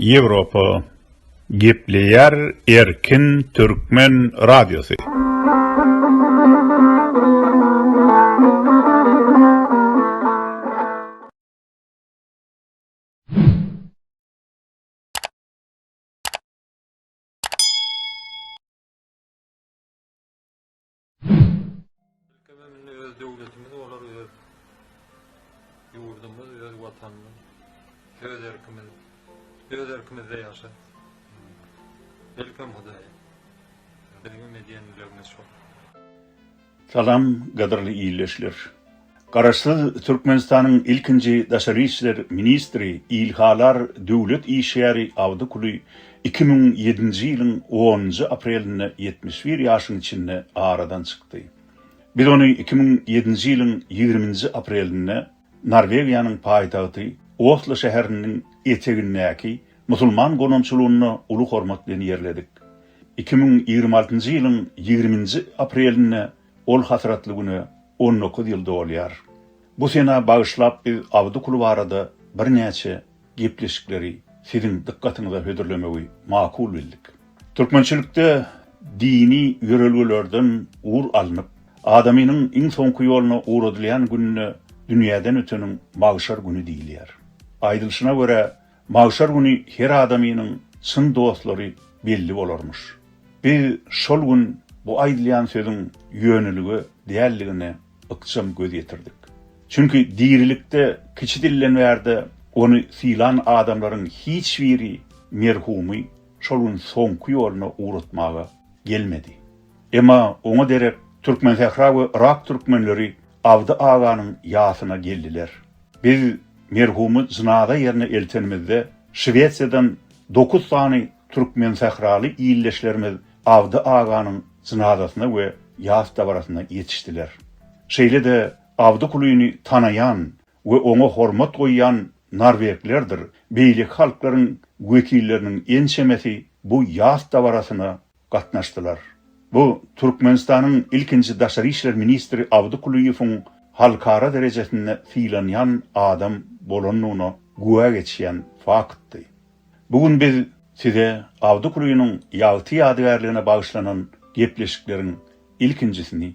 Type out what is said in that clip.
Ýewropa gepleýär erkin türkmen radiosy. döwletimiz bolar öz ýurdumyz, öz watanymyz, öz erkimiz, öz erkimizde ýaşar. Welcome Hudaý. Bizim medeniýetimiz şol. Salam, gadyrly ildeşler! Garaşsyz Türkmenistanyň ilkinji daşary işler ministri ilhalar döwlet işgäri Awdykuly iki müň ýedinji ýylyň onunjy aprelinde ýetmiş bir ýaşyň içinde aradan çykdy. Biz ony iki müň ýedinji ýylyň ýigriminji aprelinde Norwegiýanyň paýtagty Oslo şäheriniň etegindäki musulman gonamçylygynda uly hormat bilen ýerledik. Iki müň ýigrimi altynjy ýylyň ýigriminji aprelinde Ol hasratly güne on dokuz ýyl dolýar. Bu sena bagyşlap biz Abdykul barada birnäçe gepleşikleri siziň dykgatyňyza hödürlemegi makul bildik. Türkmençilikde dini ýörelgelerden ugur alnyp, adamynyň iň soňky ýoluna ugradylýan gününe dünýäden öteniň magşar güni diýilýär. Aýdylyşyna görä, Magşar güni her adamynyň çyn dostlary belli bolarmyş. Biz şol gün bu aýdylýan sözüň ýönelige däldigine ykjam göz ýetirdik. Çünki dirilikde kiçi dilden bärde ony sylan adamlaryň hiç biri merhumy şol gün soňky ýoluna ugratmaga gelmedi. Emma oňa derek Türkmensähra we Yrak türkmenleri Abdy aganyň ýasyna geldiler. Biz merhumy jynaza ýerine eltenimizde, Şwesiýadan dokuz sany türkmensähraly ildeşlerimiz Abdy aganyň jynazasyna we ýas dabarasyna ýetişdiler. Şeýle-de Abdy Kulyny tanaýan we oňa hormat goýýan norweglerdir beýleki halklaryň wekilleriniň ençemesi bu ýas dabarasyna gatnaşdylar. Bu Türkmenistanyň ilkinji daşary işler ministri Abdy Kulyýewiň halkara derejesinde sylanýan adam bolandygyna güwä geçýän faktdy. Bu gün biz Size Abdy Kulynyň ýagty ýadygärligine bagyşlanan gepleşikleriň ilkinjisini